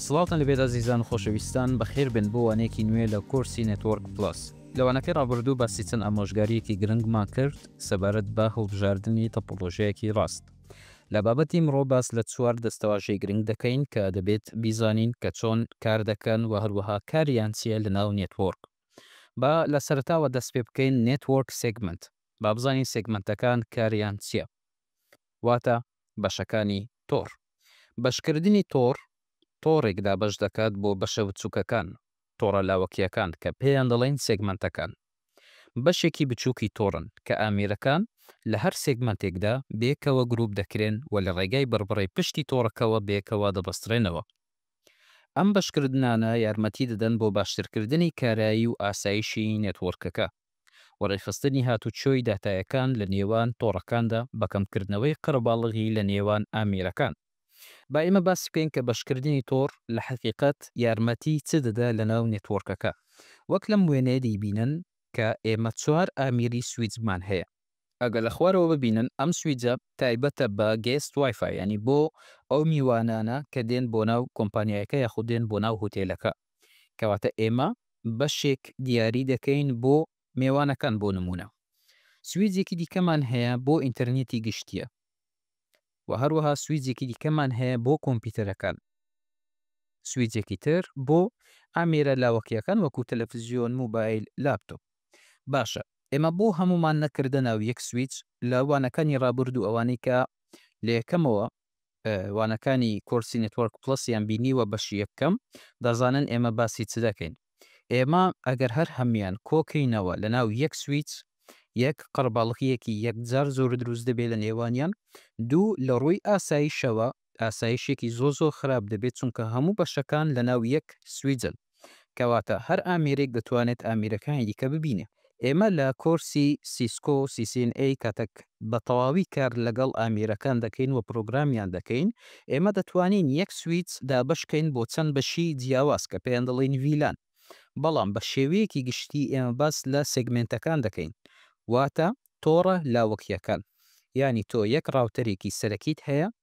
سڵاوتان لەبێت ئازیزان و خۆشەویستان بەخێربێن بۆ وانەیەکی نوێ لە کۆرسی نێتۆرک پلس لە وانەکەی ڕابردوو باسی چەند ئامۆژگاریەکی گرنگمان کرد سەبارەت بە هەڵبژاردنی تەپۆلۆژیایەکی ڕاست لە بابەتی مڕۆ باس لە چوار دەستەواژەی گرنگ دەکەین کە دەبێت بیزانین کە چۆن کار دەکەن و هەروەها کاریان چیە لە ناو نێتوۆرک. با لە سەرەتاوە دەست پێ بکەین نێتوۆرک سێگمەنت با بزانین سێگمەنتەکان کاریان چیە واتە بەشەکانی تۆڕ. بەشکردنی تۆڕ تۆڕێک دابەش دەکات بۆ بەشە بچوکەکان. تۆڕە لاوەکییەکان کە پێیان دەڵێین سێگمەنتەکان بەشێکی بچووکی تۆڕن کە ئامێرەکان لە هەر سێگمەنتێکدا بەیەکەوە گرووپ دەکرێن و لە ڕێگای بڕبڕەی پشتی تۆڕەکەوە بەیەکەوە دەبەسترێنەوە. ئەم بەشکردنانە یارمەتی دەدەن بۆ باشترکردنی کارایی و ئاسایشی نێتوۆرکەکە. و ڕێکخستنی هاتوچۆی داتایەکان لە نێوان تۆڕەکاندا بە کەمکردنەوەی قەرەباڵغی لە نێوان ئامێرەکان. با ئێمە باس بکەین کە بەشکردنی تۆڕ لە حەقیقەت یارمەتی چ دەدا لەناو نێتوۆرکەکە. وەک لەم وێنەیە دەیبینن کە ئێمە چوار ئامیری سویچمان هەیە. ئەگەر لە خوارەوە ببینن ئەم سویچە تایبەتە بە گێست وای فای یانی بۆ ئەو میوانانە کە دێن بۆ ناو کۆمپانیایەکە یاخود دێن بۆ ناو هوتێلەکە. کەواتە ئێمە بەشێک دیاری دەکەین بۆ مێوانەکان بۆ نموونە سویجێکی دیکەمان هەیە بۆ ئینتەرنێتی گشتیە و هەروەها سویجێکی دیکەمان هەیە بۆ کۆمپیوتەرەکان سویجێکی تر بۆ ئامێرە لاوەکیەکان وەکو تەلەفزیۆن موبایل لاپتۆپ باشە ئێمە بۆ هەمومان نەکردە ناو یەک سویچ لە وانەکانی ڕابردوو ئەوانەی کە لە یەکەمەوە وانەکانی کۆرسی نێتوەرک پڵەس یان بینیوە بەشی یەکەم دەزانن ئێمە باسی چ دەکەین ئێمە ئەگەر هەر هەموان کۆکەینەوە لەناو یەک سویچ یەک قەرباڵغیەکی یەکجار زۆر دروست دەبێت لە نێوانیان دوو لە ڕووی ئاسایشەوە ئاسایشێکی زۆر زۆر خراپ دەبێت چونکە هەموو بەشەکان لەناو یەک سویجن. کەواتە هەر ئامێرێک دەتوانێت ئامێرەکانی دیکە ببینێ. ئێمە لە کۆرسی Cisco CCNA کاتێک بە تەواوی کار لەگەڵ ئامێرەکان دەکەین و پرۆگرامیان دەکەین، ئێمە دەتوانین یەک سویچ دابەشکەین بۆ چەند بەشی جیاواز کە پێیان دەڵێین ڤیلان، بەڵام بە شێوەیەکی گشتی ئێمە باس لە سێگمێنتەکان دەکەین واتە تۆڕە لاوەکییەکان. یانی تۆ یەک ڕاوتەرێکی سەرەکیت هەیە،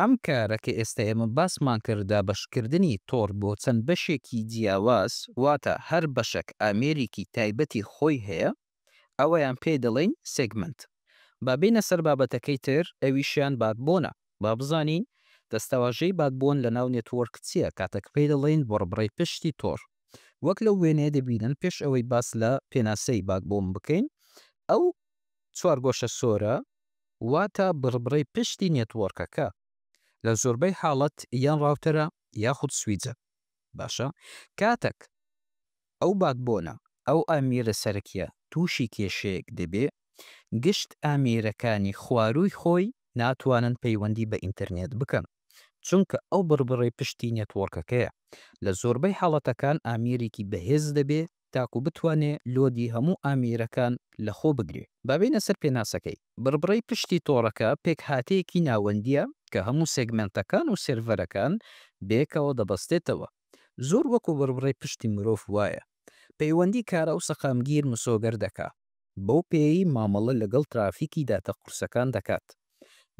ئەم کارە کە ئێستا ئێمە باسمان کردە بەشکردنی تۆڕ بۆ چەند بەشێکی جیاواز، واتە هەر بەشەک ئامێرێکی تایبەتی خۆی هەیە، ئەوەیان پێی دەڵێین سێگمەنت. با بێینە سەر بابەتەکەی تر، ئەویشیان باتبۆنە. با بزانین دەستەواژەی باتبۆن لەناو نێتوۆرک چییە کاتەک پێی دەڵێین بڕبڕەی پشتی تۆڕ. وەک لەو وێنەیە دەبینن پێش ئەوەی باس لە پێناسەی باتبۆن بکەین، ئەو چوارگۆشە سۆرە، واتە بڕبڕەی پشتی نێتوۆرکەکە لە زۆربەی حاڵەت یان ڕاوتەرە یاخود سویجە باشە کاتەک ئەو باکبۆنە ئەو ئامیرە سەرەکیە توشی کێشەیەک دەبێ گشت ئامیرەکانی خواروی خۆی ناتوانن پەیوەندی بە ئینتەرنێت بکەن چونکە ئەو بڕبڕەی پشتی نێتوۆرکەکەیە لە زۆربەی حاڵەتەکان ئامیرێکی بەهێز دەبێ تاکو بتوانێ لۆدی هەموو ئامیرەکان لە خۆ بگرێ. با بێینە سەر پێناسەکەی. بڕبڕەی پشتی تۆڕەکە پێکهاتەیەکی ناوەندییە کە هەموو سێگمێنتەکان و سێرڤەرەکان بەیەکەوە دەبەستێتەوە. زۆر وەکو بڕبڕەی پشتی مرۆڤ وایە. پەیوەندی کارا و سەقامگیر مسۆگەر دەکا. بەو پێیەی مامەڵە لەگەڵ ترافیکی داتا قورسەکان دەکات.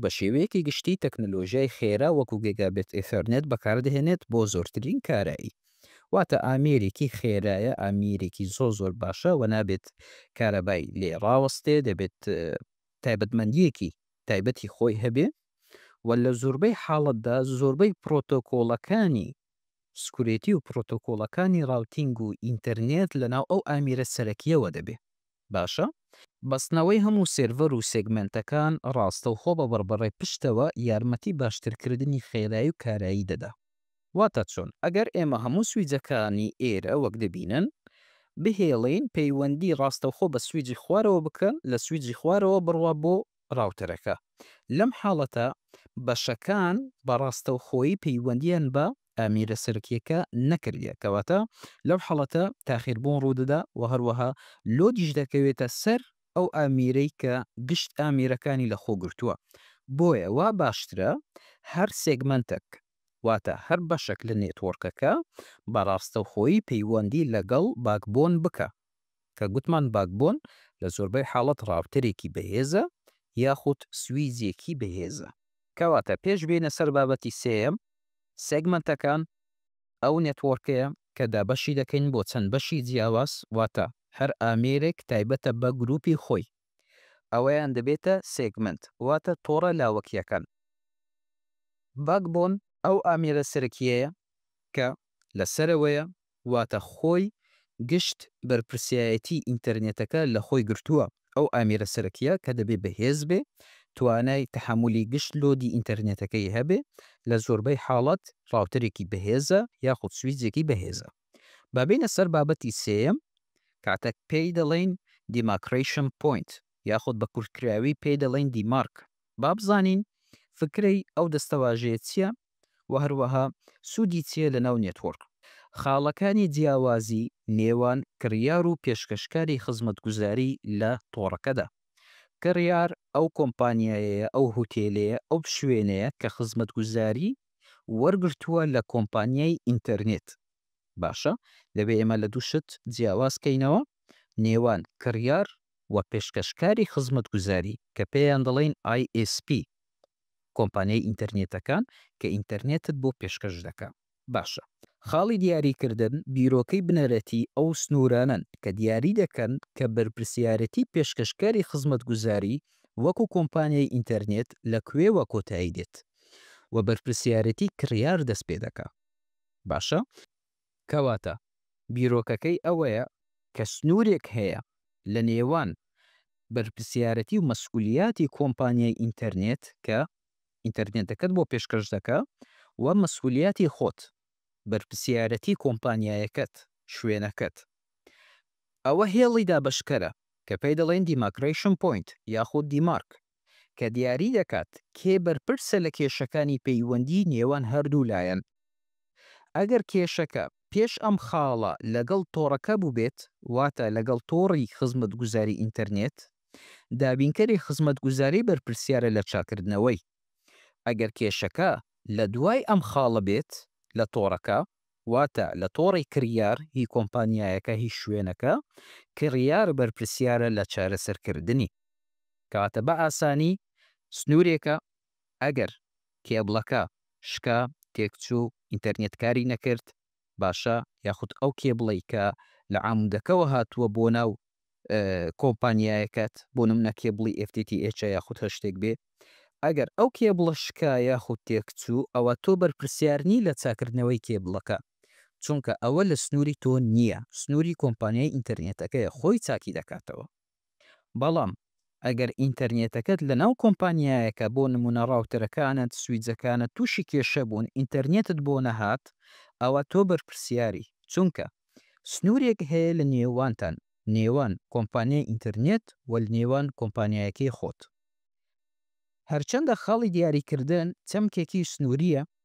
بە شێوەیەکی گشتی تەکنەلۆژیای خێرا وەکو گێگابێت ئێثەرنێت بەکاردەهێنێت بۆ زۆرترین کارایی. واتە ئامێرێکی خێرایە، ئامێرێکی زۆر زۆر باشە و نابێت کارەبای لێ ڕاوەستێ، دەبێت تایبەتمەندییەکی تایبەتی خۆی هەبێ و لە زۆربەی حاڵەتدا زۆربەی پرۆتۆکۆڵەکانی سکورێتی و پرۆتۆکۆڵەکانی ڕاوتینگ و ئینتەرنێت لەناو ئەو ئامیرە سەرەکییەوە دەبێ باشە. بەستنەوەی هەموو سێرڤەر و سێگمێنتەکان ڕاستەوخۆ بە بڕبڕەی پشتەوە یارمەتی باشترکردنی خێرایی و کارایی دەدا. واتە چۆن؟ ئەگەر ئێمە هەموو سویجەکانی ئێرە وەک دەبینن، بهێڵین پەیوەندی ڕاستەوخۆ بە سویجی خوارەوە بکەن، لە سویجی خوارەوە بڕوا بۆ ڕاوتەرەکە. لەم حاڵەتە بەشەکان بە ڕاستەوخۆیی پەیوەندییان بە ئامێرە سەرەکییەکە نەکردیە، کەواتە لەو حاڵەتە تاخیربوون ڕوودەدا و هەروەها لۆدیش دەکەوێتە سەر ئەو ئامێرەی کە گشت ئامێرەکانی لەخۆ گرتووە. بۆیە وا باشترە هەر سێگمەنتەک واتە هەر بەشەک لە نێتوۆرکەکە بە ڕاستەوخۆیی پەیوەندی لەگەڵ باکبۆن بکا. کە گوتمان باکبۆن لە زۆربەی حاڵەت ڕاوتەرێکی بەهێزە یاخود سویجێکی بەهێزە. کەواتە پێش بێینە سەر بابەتی سێیەم، سێگمەنتەکان ئەو نێتوۆرکەیە کە دابەشی دەکەین بۆ چەند بەشی جیاواز واتە هەر ئامێرێک تایبەتە بە گروپی خۆی ئەوەیان دەبێتە سێگمەنت واتە تۆڕە لاوەکیەکان. باکبۆن ئەو ئامێرە سەرەکیەیە کە لە سەرەوەیە واتە خۆی گشت بەرپرسیایەتی ئینتەرنێتەکە لە خۆی گرتووە، ئەو ئامێرە سەرەکییە کە دەبێ بەهێز بێ، توانای تەحەمولی گشت لۆدی ئینتەرنێتەکەی هەبێ، لە زۆربەی حاڵەت ڕاوتەرێکی بەهێزە یاخود سویچێکی بەهێزە. با بێینە سەر بابەتی سێیەم، کاتە پێی دەڵێین Demarcation Point یاخود بە کورتکراوی پێی دەڵێین دیمارک. با بزانین فکرەی ئەو دەستەواژەیە چییە و هەروەها سوودی چییە لەناو نێتوۆرک. خاڵەکانی جیاوازی نێوان کڕیار و پێشکەشکاری خزمەتگوزاری لە تۆڕەکەدا. کڕیار ئەو کۆمپانیایەیە، ئەو هوتێلەیە، ئەو شوێنەیە کە خزمەتگوزاری وەرگرتووە لە کۆمپانیای ئینتەرنێت. باشە دەبێ ئێمە لە دوو شت جیاواز کەینەوە نێوان کڕیار و پێشکەشکاری خزمەتگوزاری کە پێیان دەڵێین ISP، کۆمپانیای ئینتەرنێتەکان کە ئینتەرنێتت بۆ پێشکەش دەکا. باشە خاڵی دیاریکردن بیرۆکەی بنەرەتی ئەو سنوورانەن کە دیاری دەکەن کە بەرپرسیارێتی پێشکەشکاری خزمەتگوزاری وەکو کۆمپانیای ئینتەرنێت لە کوێوە کۆتایی دێت و بەرپرسیارێتی کڕیار دەست پێ دەکا. باشە کەواتە بیرۆکەکەی ئەوەیە کە سنوورێک هەیە لە نێوان بەرپرسیارەتی و مەسئولیاتی کۆمپانیای ئینتەرنێت کە ئینتەرنێتەکەت بۆ پێشکەش دەکا و مەسئولیاتی خۆت، بەرپرسیارەتی کۆمپانیایەکەت، شوێنەکەت. ئەوە هێڵی دابەشکەرە کە پێی دەڵێن دیماکرەیشن پۆینت یاخود دیمارک. کە دیاری دەکات کێ بەرپرسە لە کێشەکانی پەیوەندی نێوان هەردوو لایەن. ئەگەر کێشەکە پێش ئەم خاڵە لەگەڵ تۆڕەکە بووبێت، واتە لەگەڵ تۆڕی خزمەتگوزاری ئینتەرنێت، دابینکەری خزمەتگوزاری بەرپرسیارە لە چاککردنەوەی. ئەگەر کێشەکە لە دوای ئەم خاڵە بێت لە تۆڕەکە، واتە لە تۆڕی کڕیار هی کۆمپانیایەکە هی شوێنەکە، کڕیار بەرپرسیارە لە چارەسەرکردنی. کەواتە بە ئاسانی سنوورێکە ئەگەر کێبڵەکە شکا، تێکچوو، ئینتەرنێت کاری نەکرد، باشە یاخود ئەو کێبڵەی کە لە عامودەکەوە هاتووە بۆ ناو کۆمپانیایەکەت بۆ نمونە کێبڵی ئێف تی تی ئێچە یاخود هەر شتێک بێ ئەگەر ئەو کێبڵە شکا یاخود تێکچوو ئەوە تۆ بەرپرسیار نی لە چاکردنەوەی کێبڵەکە چونکە ئەوە لە سنوری تۆ نیە سنوری کۆمپانیای ئینتەرنێتەکەیە خۆی چاکی دەکاتەوە بەڵام ئەگەر ئینتەرنێتەکەت لەناو کۆمپانیایەکە بۆ نمونە ڕاوتەرەکانت سویجەکانت توشی کێشە بوون ئینتەرنێتت بۆ نەهات ئەوا تۆ بەرپرسیاری چونکە سنورێک هەیە لە نێوانتان نێوان کۆمپانیای ئینتەرنێت و لەنێوان کۆمپانیایەکەی خۆت هەرچەندە خاڵی دیاریکردن چەمکێکی سنوریە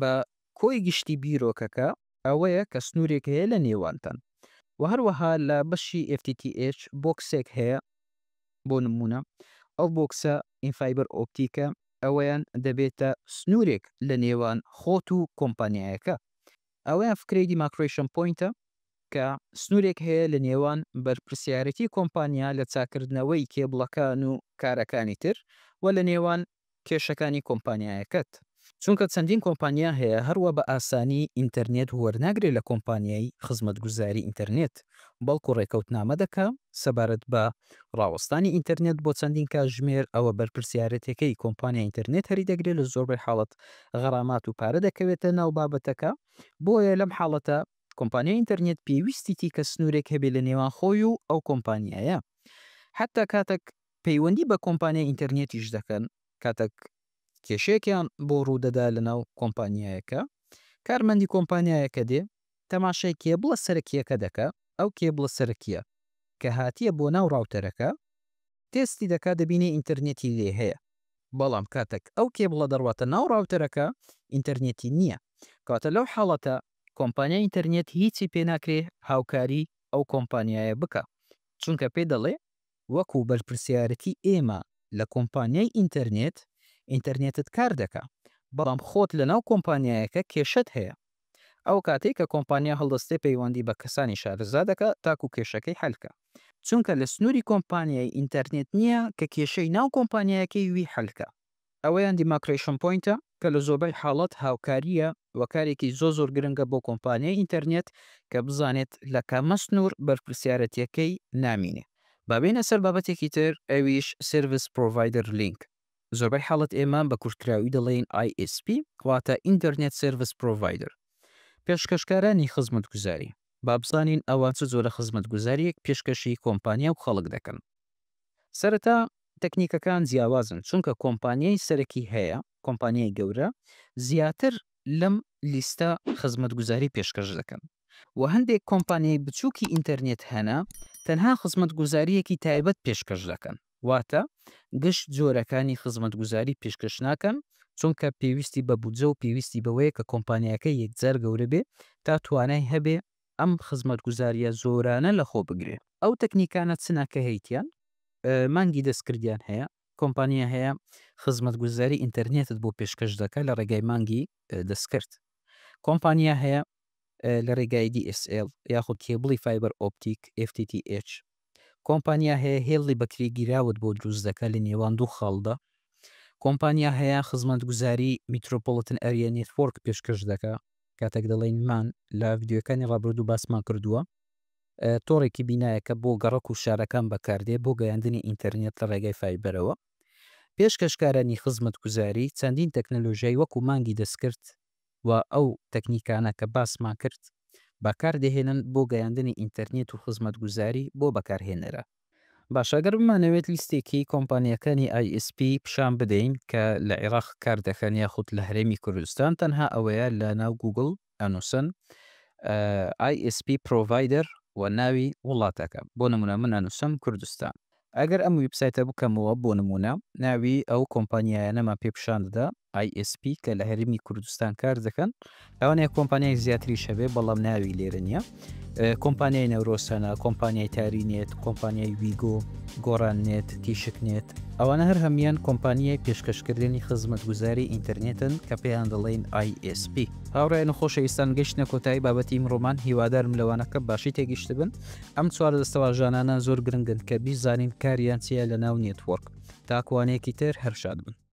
بە کۆی گشتی بیرۆکەکە ئەوەیە کە سنوورێک هەیە لە نێوانتان و هەروەها لە بەشی FTTH بۆکسێک هەیە بۆ نموونە ئەو بۆکسە ئینفایبەر ئۆپتیکە ئەوەیان دەبێتە سنوورێک لە نێوان خۆت و کۆمپانیایەکە ئەوەیان فکرەی دیماکرەیشن پۆینتە کە سنوورێک هەیە لە نێوان بەرپرسیارێتی کۆمپانیا لە چاککردنەوەی کێبڵەکان و کارەکانی تر و لە نێوان کێشەکانی کۆمپانیایەکەت چونکە چەندین کۆمپانیا هەیە هەروا بە ئاسانی ئینتەرنێت وەرناگرێت لە کۆمپانیای خزمەتگوزاری ئینتەرنێت بەڵکو ڕێکەوتنامە دەکا سەبارەت بە ڕاوەستانی ئینتەرنێت بۆ چەندین کاژمێر ئەوە بەرپرسیارەتەکەی کۆمپانیای ئینتەرنێت هەری دەگرێت لە زۆربەی حاڵەت غەرامات و پارە دەکەوێتە ناو بابەتەکە بۆیە لەم حاڵەتە کۆمپانیای ئینتەرنێت پێویستیتی کە سنورێک هەبێت لە نێوان خۆی و ئەو کۆمپانیایە حەتا کاتەک پەیوەندی بە کۆمپانیای ئینتەرنێتیش دەکەن، کاتێک کێشەیەکیان بۆ ڕوودەدا لەناو کۆمپانیایەکە، کارمەندی کۆمپانیایەکە دێ، تەماشای کێبڵە سەرەکییەکە دەکا، ئەو کێبڵە سەرەکییە کە هاتییە بۆ ناو ڕاوتەرەکە، تێستی دەکا دەبینێ ئینتەرنێتی لێ هەیە، بەڵام کاتێک ئەو کێبڵە دەڕواتە ناو ڕاوتەرەکە ئینتەرنێتی نییە، کەواتە لەو حاڵەتە کۆمپانیای ئینتەرنێت هیچی پێ ناکرێ هاوکاری ئەو کۆمپانیایە بکا، چونکە پێی دەڵێ وەکو بەرپرسیارەتی ئێمە لە کۆمپانیای ئینتەرنێت، ئینتەرنێتت کار دەکا، بەڵام خۆت لەناو کۆمپانیایەکە کێشەت هەیە. ئەو کاتەی کە کۆمپانیا هەڵدەستێ پەیوەندی بە کەسانی شارەزا دەکا تاکو کێشەکەی حەل کا. چونکە لە سنوری کۆمپانیای ئینتەرنێت نییە کە کێشەی ناو کۆمپانیایەکەی وی حەل کا. ئەوەیان دیماکرەیشن پۆینتە کە لە زۆربەی حاڵەت هاوکارییە و کارێکی زۆر زۆر گرنگە بۆ کۆمپانیای ئینتەرنێت کە بزانێت لە کامە سنوور بەرپرسیارەتییەکەی نامینێ. با بێینە سەر بابەتێکی تر ئەویش سێرڤس پرۆڤایدەر لینک. زۆربەی حاڵەت ئێمە بە کورتکراوی دەڵێین ISP واتە ئینتەرنێت سێرڤس پرۆڤایدەر، پێشکەشکارانی خزمەتگوزاری. با بزانین ئەوە چ جۆرە خزمەتگوزارییەک پێشکەشی کۆمپانیا و خەڵک دەکەن. سەرەتا تەکنیکەکان جیاوازن چونکە کۆمپانیای سەرەکی هەیە، کۆمپانیای گەورە زیاتر لەم لیستە خزمەتگوزاری پێشکەش دەکەن و هەندێک کۆمپانیای بچووکی ئینتەرنێت هەنە تەنها خزمەتگوزارییەکی تایبەت پێشکەش دەکەن واتە گشت جۆرەکانی خزمەتگوزاری پێشکەش ناکەن چونکە پێویستی بە بودجە و پێویستی بەوەیە کە کۆمپانیاکە یەکجار گەورە بێ تا توانای هەبێ ئەم خزمەتگوزارییە زۆرانە لەخۆ بگرێ. ئەو تەکنیکانە چنە کە هەیتیان؟ مانگی دەستکردیان هەیە، کۆمپانیا هەیە خزمەتگوزاری ئینتەرنێتت بۆ پێشکەش دەکا لە ڕێگای مانگی دەستکرد. کۆمپانیا هەیە لە ڕێگای دی ئێس ئێڵ یاخود کێبڵی فایبەر ئۆپتیک، FTTH، کۆمپانیا هەیە هێڵی بەکری گیراوت بۆ دروست دەکا لە نێوان دوو خاڵدا. کۆمپانیا هەیە خزمەتگوزاری میترۆپۆڵتن ئەریا نێتوۆرک پێشکەش دەکا، کاتێک دەڵێین مان لە ڤیدیۆیەکانی ڕابردوو باسمان کردووە تۆڕێکی بینایە کە بۆ گەڕەک و شارەکان بەکاردێ بۆ گەیاندنی ئینتەرنێت لە ڕێگای فایبەرەوە. پێشکەشکارانی خزمەتگوزاری چەندین تەکنەلۆژیای وەکوو مانگی دەستکرد، و ئەو تەکنیکانە کە باسمان کرد بەکاردەهێنن بۆ گەیاندنی ئینتەرنێت و خزمەتگوزاری بۆ بەکارهێنەران. باشە ئەگەر بمانەوێت لیستێکی کۆمپانیاکانی ئای ئێس پی پیشان بدەین کە لە عیراق کار دەکەن یاخود لە هەرێمی کوردستان تەنها ئەوەیە لە ناو گووگڵ ئەنووسن ئای ئێس پی پرۆڤایدەر و ناوی وڵاتەکە بۆ نموونە من ئەنووسم کوردستان ئەگەر ئەم ویبسایتە بکەمەوە بۆ نموونە ناوی ئەو کۆمپانیایانەمان پێ پیشان دەدا ISP کە لە هەرێمی کوردستان کار دەکەن لەوانەیە کۆمپانیای زیاتریش هەبێ بەڵام ناوی لێرە نییە کۆمپانیای نەورۆسەنە کۆمپانیای تاری نێت کۆمپانیای ویگۆ گۆران نێت تیشک نێت ئەوانە هەر هەمان کۆمپانیای پێشکەشکردنی خزمەتگوزاری ئینتەرنێتن کە پێیان دەڵێن ISP هاوڕێن خۆشەویستان گەشتە کۆتایی بابەتی ئیمڕۆمان هیوادارم لەوانەکە باشی تێگەشتبن ئەم چوار دەستەواژانانە زۆر گرنگن کە بیزانین کاریان چیە لەناو نێتوۆرک. تاکوانەیەکی تر هەر شاد بن.